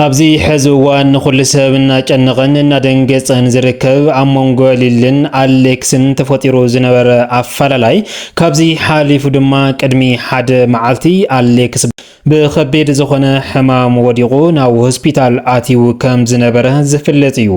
ኣብዚ ሐዚ እዋን ንኹሉ ሰብ እናጨነቐን እናደንገፀን ዝርከብ ኣብ መንጎ ሊልን ኣሌክስን ተፈጢሩ ዝነበረ ኣፈላላይ ካብዚ ሓሊፉ ድማ ቅድሚ ሓደ መዓልቲ ኣሌክስ ብከቢድ ዝኾነ ሕማም ወዲቑ ናብ ሆስፒታል ኣትዩ ከም ዝነበረ ዝፍለጥ እዩ።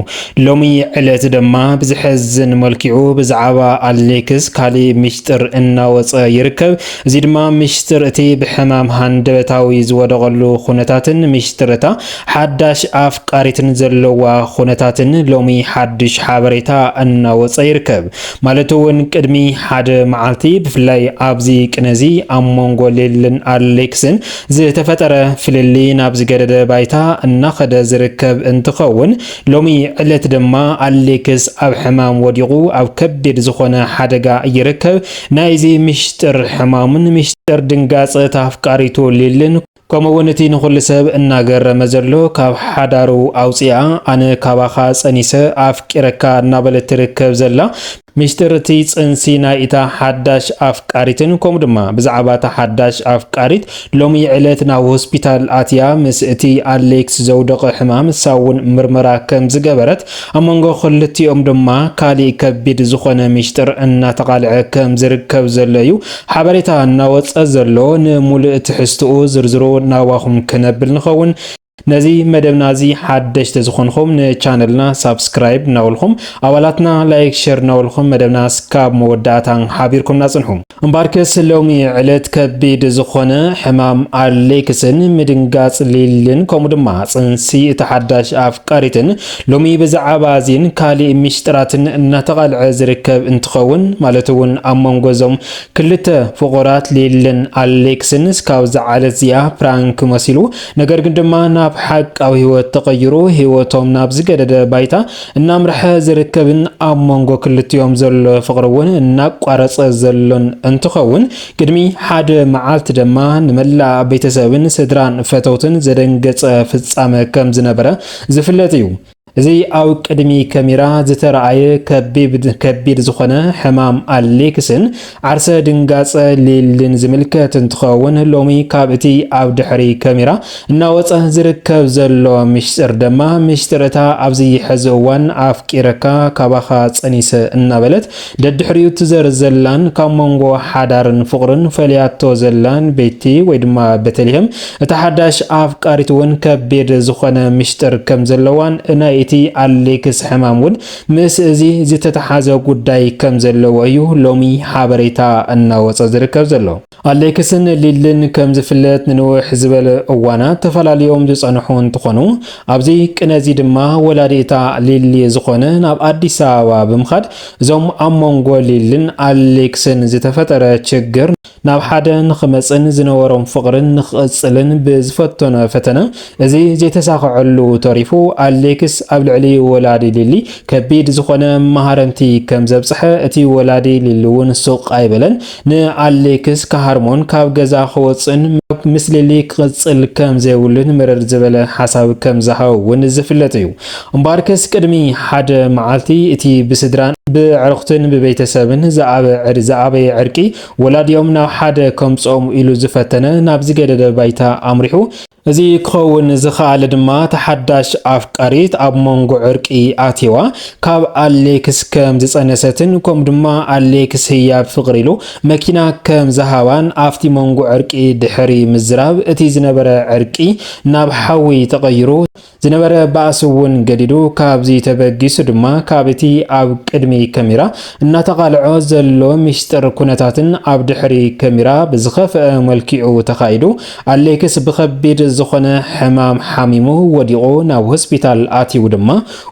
ሎሚ ዕለት ድማ ብዝሐዝን መልክዑ ብዛዕባ ኣሌክስ ካሊእ ሚስጥር እናወፀ ይርከብ። እዚ ድማ ሚሽጥር እቲ ብሕማም ሃንደበታዊ ዝወደቐሉ ኩነታትን ሚሽጥር እታ ሓዳሽ ኣፍቃሪትን ዘለዋ ኩነታትን ሎሚ ሓድሽ ሓበሬታ እናወጸ ይርከብ። ማለት እውን ቅድሚ ሓደ መዓልቲ ብፍላይ ኣብዚ ቅነ እዚ ኣብ መንጎ ሊልን ኣሌክስን ዝተፈጠረ ፍልልይ ናብ ዝገደደ ባይታ እናኸደ ዝርከብ እንትኸውን ሎሚ ዕለት ድማ ኣሌክስ ኣብ ሕማም ወዲቑ ኣብ ከቢድ ዝኾነ ሓደጋ ይርከብ። ናይዚ ሚሽጥር ሕማሙን ሚሽጥር ድንጋጸ እታ ኣፍቃሪቱ ሊልን ከምኡ ውን እቲ ንኹሉ ሰብ እናገረመ ዘሎ ካብ ሓዳሩ ኣውጺኣ ኣነ ካባኻ ጸኒሰ ኣፍቂረካ እናበለት ትርከብ ዘላ ሚሽጥር እቲ ጽንሲ ናይ እታ ሓዳሽ ኣፍቃሪትን ከምኡ ድማ ብዛዕባ እታ ሓዳሽ ኣፍቃሪት ሎሚ ዕለት ናብ ሆስፒታል ኣትያ ምስ እቲ ኣሌክስ ዘውደቐ ሕማም እሳ ውን ምርመራ ከም ዝገበረት ኣብ መንጎ ክልቲኦም ድማ ካሊእ ከቢድ ዝኾነ ሚሽጥር እናተቓልዐ ከም ዝርከብ ዘሎ እዩ ሓበሬታ እናወፀ ዘሎ። ንሙሉእ ትሕዝትኡ ዝርዝሩ ናባኹም ክነብል ንኸውን። ነዚ መደብና እዚ ሓደሽቲ ዝኾንኹም ንቻነልና ሳብስክራይብ እናበልኹም ኣባላትና ላይክ ሸር እናበልኹም መደብና እስካብ መወዳእታ ሓቢርኩምና ፅንሑ። እምባርከስ ሎሚ ዕለት ከቢድ ዝኾነ ሕማም ኣሌክስን ምድንጋጽ ሊልን ከምኡ ድማ ጽንሲ እቲ ሓዳሽ ኣፍቃሪትን ሎሚ ብዛዕባ እዚን ካሊእ ሚሽጥራትን እናተቓልዐ ዝርከብ እንትኸውን ማለት እውን ኣብ መንጎ እዞም ክልተ ፍቑራት ሊልን ኣሌክስን እስካብ ዝዓለት እዚኣ ፕራንክ መሲሉ ነገር ግን ድማ ናብ ሓቃዊ ህይወት ተቐይሩ ህይወቶም ናብ ዝገደደ ባይታ እናምርሐ ዝርከብን ኣብ መንጎ ክልቲኦም ዘሎ ፍቕሪ እውን እናቋረጸ ዘሎን እንትኸውን ቅድሚ ሓደ መዓልቲ ድማ ንመላእ ቤተሰብን ስድራን ፈተውትን ዘደንገጸ ፍጻመ ከም ዝነበረ ዝፍለጥ እዩ። እዚ ኣብ ቅድሚ ከሚራ ዝተረኣየ ከቢድ ዝኾነ ሕማም ኣሌክስን ዓርሰ ድንጋጸ ሊልን ዝምልከት እንትኸውን ሎሚ ካብ እቲ ኣብ ድሕሪ ከሚራ እናወጸ ዝርከብ ዘሎ ምሽጥር ደማ ምሽጥር እታ ኣብዚ ሕዚ እዋን ኣፍቂረካ ካባኻ ጸኒሰ እናበለት ደድሕሪኡ ትዘር ዘላን ካብ መንጎ ሓዳርን ፍቕርን ፈልያቶ ዘላን ቤቲ ወይ ድማ ቤተልሄም እታ ሓዳሽ ኣፍቃሪት እውን ከቢድ ዝኾነ ምሽጥር ከም ዘለዋን ናይ እቲ ኣሌክስ ሕማም እውን ምስ እዚ ዝተተሓዘ ጉዳይ ከም ዘለዎ እዩ ሎሚ ሓበሬታ እናወፀ ዝርከብ ዘሎ። ኣሌክስን ሊልን ከም ዝፍለጥ ንንውሕ ዝበለ እዋናት ተፈላልዮም ዝፀንሑ እንትኾኑ ኣብዚ ቅነ እዚ ድማ ወላዲ'ታ ሊሊ ዝኾነ ናብ ኣዲስ ኣበባ ብምኻድ እዞም ኣብ መንጎ ሊልን ኣሌክስን ዝተፈጠረ ችግር ናብ ሓደ ንኽመጽን ዝነበሮም ፍቕርን ንኽቕጽልን ብዝፈተኖ ፈተነ እዚ ዘይተሳኸዐሉ ተሪፉ፣ ኣሌክስ ኣብ ልዕሊ ወላዲ ሊሊ ከቢድ ዝኾነ መሃረምቲ ከም ዘብጽሐ፣ እቲ ወላዲ ሊሊ'ውን ሱቕ ኣይበለን፣ ንኣሌክስ ክሃርሞን ካብ ገዛ ክወጽእን፣ ምስ ሊሊ ክቕጽል ከም ዘይብሉን መረር ዝበለ ሓሳብ ከም ዝሃቦ'ውን ዝፍለጥ እዩ። እምበኣርከስ ቅድሚ ሓደ መዓልቲ እቲ ብስድራን ብኣዕሩኽትን ብቤተሰብን ዝኣበየ ዕርቂ ወላዲኦም ናብ ሓደ ከምጽኦም ኢሉ ዝፈተነ ናብ ዝገደደ ባይታ ኣምሪሑ። እዚ ክኸውን ዝኸኣለ ድማ እታ ሓዳሽ ኣፍቃሪት ኣብ መንጎ ዕርቂ ኣትይዋ ካብ ኣሌክስ ከም ዝጸነሰትን ከምኡ ድማ ኣሌክስ ህያብ ፍቕሪ ኢሉ መኪና ከም ዝሃባን ኣብቲ መንጎ ዕርቂ ድሕሪ ምዝራብ እቲ ዝነበረ ዕርቂ ናብ ሓዊ ተቐይሩ ዝነበረ ባእሲ እውን ገዲዱ፣ ካብዚ ተበጊሱ ድማ ካብ እቲ ኣብ ቅድሚ ከሚራ እናተቓልዖ ዘሎ ሚሽጥር ኩነታትን ኣብ ድሕሪ ከሚራ ብዝኸፍኣ መልኪዑ ተኻይዱ ኣሌክስ ብኸቢድ ዝኾነ ሕማም ሓሚሙ ወዲቑ ናብ ሆስፒታል ኣትዩ ድማ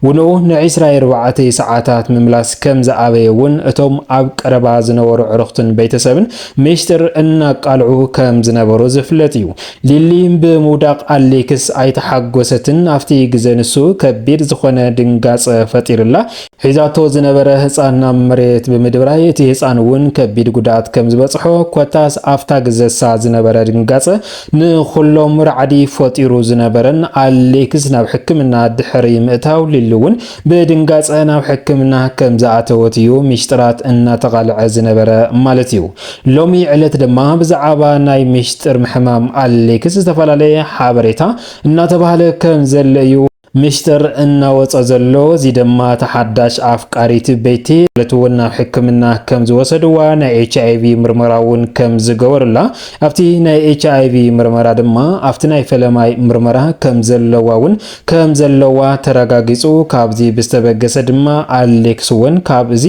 ውንኡ ንዒስራ ኣርባዕተ ሰዓታት ምምላስ ከም ዝኣበየ እውን እቶም ኣብ ቀረባ ዝነበሩ ዕርኽቱን ቤተሰብን ሚሽጥር እናቃልዑ ከም ዝነበሩ ዝፍለጥ እዩ። ሊሊ ብምውዳቕ ኣሌክስ ኣይተሓጎሰትን፣ ኣብቲ ግዘ ንሱ ከቢድ ዝኾነ ድንጋፀ ፈጢሩላ ሒዛቶ ዝነበረ ህፃን ናብ መሬት ብምድብራይ እቲ ህፃን እውን ከቢድ ጉድኣት ከም ዝበፅሖ ኮታስ ኣብታ ግዘሳ ዝነበረ ድንጋፀ ንኹሎም ራዕዲ ፈጢሩ ዝነበረን ኣሌክስ ናብ ሕክምና ድሕሪ ምእታው ሊሊ እውን ብድንጋጸ ናብ ሕክምና ከም ዝኣተወት እዩ ሚሽጥራት እናተቓልዐ ዝነበረ ማለት እዩ። ሎሚ ዕለት ድማ ብዛዕባ ናይ ሚሽጥር ሕማም ኣሌክስ ዝተፈላለየ ሓበሬታ እናተባህለ ከም ዘሎ እዩ ሚሽጥር እናወጸ ዘሎ። እዚ ድማ እታ ሓዳሽ ኣፍቃሪት ቤቲ ዕለት እውን ናብ ሕክምና ከም ዝወሰድዋ ናይ ኤች ኣይቪ ምርመራ እውን ከም ዝገበሩላ ኣብቲ ናይ ኤች ኣይቪ ምርመራ ድማ ኣብቲ ናይ ፈለማይ ምርመራ ከም ዘለዋ እውን ከም ዘለዋ ተረጋጊጹ። ካብዚ ብዝተበገሰ ድማ ኣሌክስ ውን ካብ እዚ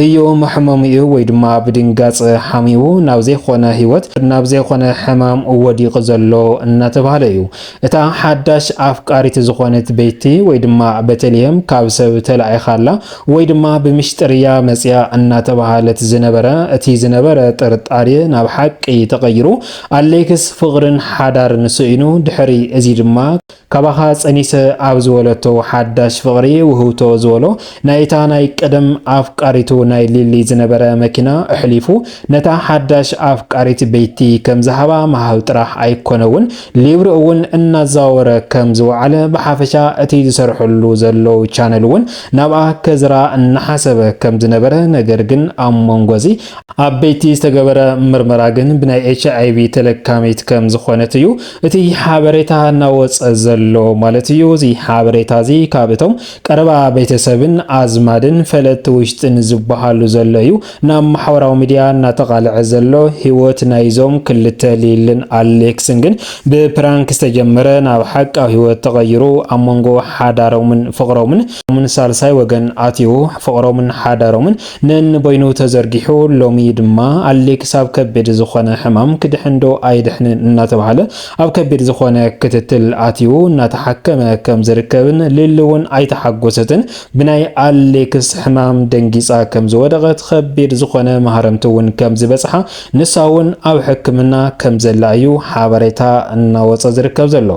እዩ መሕመሚኡ ወይ ድማ ብድንጋጸ ሓሚሙ ናብ ዘይኮነ ህይወት ናብ ዘይኮነ ሕማም ወዲቁ ዘሎ እናተባህለ እዩ። እታ ሓዳሽ ኣፍቃሪት ዝኾነት ቤቲ ወይ ድማ በተልሄም ካብ ሰብ ተላኢኻ ኣላ ወይ ድማ ብምሽጥር እያ መጺኣ እናተባህለት ዝነበረ እቲ ዝነበረ ጥርጣሬ ናብ ሓቂ ተቀይሩ ኣሌክስ ፍቅርን ሓዳርን ስኢኑ ድሕሪ እዚ ድማ ካባኻ ጸኒሰ ኣብ ዝበለቶ ሓዳሽ ፍቕሪ ውህብቶ ዝበሎ ናይታ ናይ ቀደም ኣፍቃሪቱ ናይ ሊሊ ዝነበረ መኪና ኣሕሊፉ ነታ ሓዳሽ ኣፍቃሪት ቤቲ ከም ዝሃባ ምሃብ ጥራሕ ኣይኮነ ውን ሊብሪ እውን እናዛወረ ከም ዝወዓለ ብሓፈሻ እቲ ዝሰርሐሉ ዘሎ ቻነል ውን ናብኣ ከዝራ እናሓሰበ ከም ዝነበረ ነገር ግን ኣብ መንጎ እዚ ኣበይቲ ዝተገበረ ምርመራ ግን ብናይ ኤች ኣይቪ ተለካሚት ከም ዝኾነት እዩ እቲ ሓበሬታ እናወፀ ዘሎ ማለት እዩ። እዚ ሓበሬታ እዚ ካብ እቶም ቀረባ ቤተሰብን ኣዝማድን ፈለጥቲ ውሽጥን ዝበሃሉ ዘሎ እዩ ናብ ማሕበራዊ ሚዲያ እናተቓልዐ ዘሎ። ህይወት ናይዞም ክልተ ሊልን ኣሌክስን ግን ብፕራንክ ዝተጀመረ ናብ ሓቃዊ ህይወት ተቐይሩ ኣብ መንጎ ሓዳሮምን ፍቕሮምን ሳልሳይ ወገን ኣትዩ ፍቕሮምን ሓዳሮምን ነንበይኑ ተዘርጊሑ ሎሚ ድማ ኣሌክስ ኣብ ከቢድ ዝኾነ ሕማም ክድሕን ዶ ኣይድሕንን እናተብሃለ ኣብ ከቢድ ዝኾነ ክትትል ኣትዩ እናተሓከመ ከም ዝርከብን ሊሊ እውን ኣይተሓጎሰትን ብናይ ኣሌክስ ሕማም ደንጊፃ ከም ዝወደቐት ከቢድ ዝኾነ ማህረምቲ እውን ከም ዝበፅሓ ንሳ እውን ኣብ ሕክምና ከም ዘላ እዩ ሓበሬታ እናወፀ ዝርከብ ዘሎ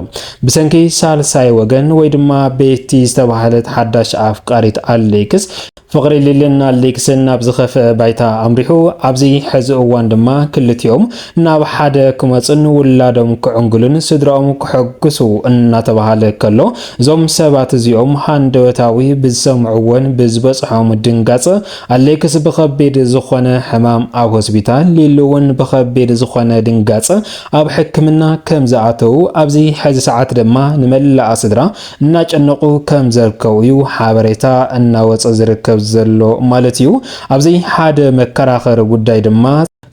ብሰንኪ ሳልሳይ ወገን ወይ ድማ ቤቲ ዝተባሃለት ሓዳሽ ኣፍቃሪት ኣሌክስ ፍቕሪ ሊልን ኣሌክስን ናብ ዝኸፍኣ ባይታ ኣምሪሑ፣ ኣብዚ ሕዚ እዋን ድማ ክልቲኦም ናብ ሓደ ክመፁን ውላዶም ክዕንግሉን ስድራኦም ከሐጉሱ እናተብሃለ ከሎ እዞም ሰባት እዚኦም ሃንደበታዊ ብዝሰምዕዎን ብዝበፅሖም ድንጋፀ ኣሌክስ ብኸቢድ ዝኾነ ሕማም ኣብ ሆስፒታል ሊሉ እውን ብኸቢድ ዝኾነ ድንጋፀ ኣብ ሕክምና ከምዝኣተዉ ኣብዚ ሕዚ ሰዓት ድማ ንመላኣ ስድራ እናጨነቑ ከም ዘርከቡ እዩ ሓበሬታ እናወፀ ዝርከብ ዘሎ ማለት እዩ። ኣብዚ ሓደ መከራኸሪ ጉዳይ ድማ፣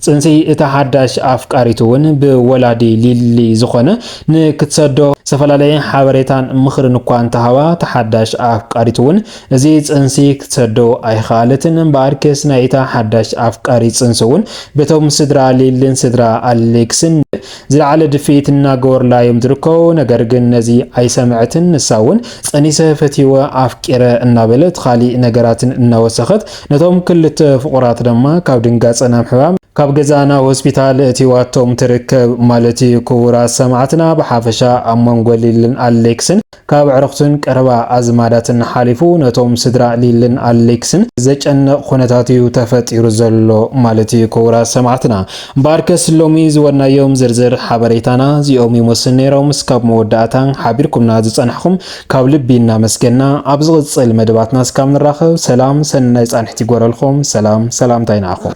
ፅንሲ እታ ሓዳሽ ኣፍቃሪቱ እውን ብወላዲ ሊሊ ዝኾነ ንክትሰዶ ዝተፈላለየ ሓበሬታን ምኽርን እኳ እንተሃባ እታ ሓዳሽ ኣፍቃሪቱ እውን እዚ ፅንሲ ክትሰዶ ኣይኸኣለትን። እምበኣር ክስ ናይ እታ ሓዳሽ ኣፍቃሪት ፅንሲ እውን በቶም ስድራ ሊሊን ስድራ ኣሌክስን ዝለዓለ ድፍኢት እናገበሩላ እዮም ዝርከቡ፣ ነገር ግን ነዚ ኣይሰመዐትን፣ ንሳ እውን ፀኒሰ፣ ፈትየወ፣ ኣፍቂረ እናበለት ኻሊእ ነገራትን እናወሰኸት ነቶም ክልተ ፍቑራት ድማ ካብ ድንጋፀ ናብ ሕማም፣ ካብ ገዛ ናብ ሆስፒታል እእቲዋቶም ትርከብ ማለት እዩ። ክቡራት ሰማዕትና ብሓፈሻ ኣብ መንጎ ሊልን ኣሌክስን ካብ ኣዕሩኽትን ቀረባ ኣዝማዳትን ሓሊፉ ነቶም ስድራ ሊልን ኣሌክስን ዘጨንቕ ኩነታት'ዩ ተፈጢሩ ዘሎ ማለት'ዩ ክቡራት ሰማዕትና። እምበኣርከስ ሎሚ ዝወናዮም ዝርዝር ሓበሬታና እዚኦም ይመስሉ ነይሮም። እስካብ መወዳእታ ሓቢርኩምና ዝጸናሕኹም ካብ ልቢ እናመስገንና ኣብ ዝቕጽል መደባትና እስካብ ንራኸብ ሰላም ሰናይ ጻንሒት ይግበረልኩም። ሰላም ሰላምታይ ንዓኹም።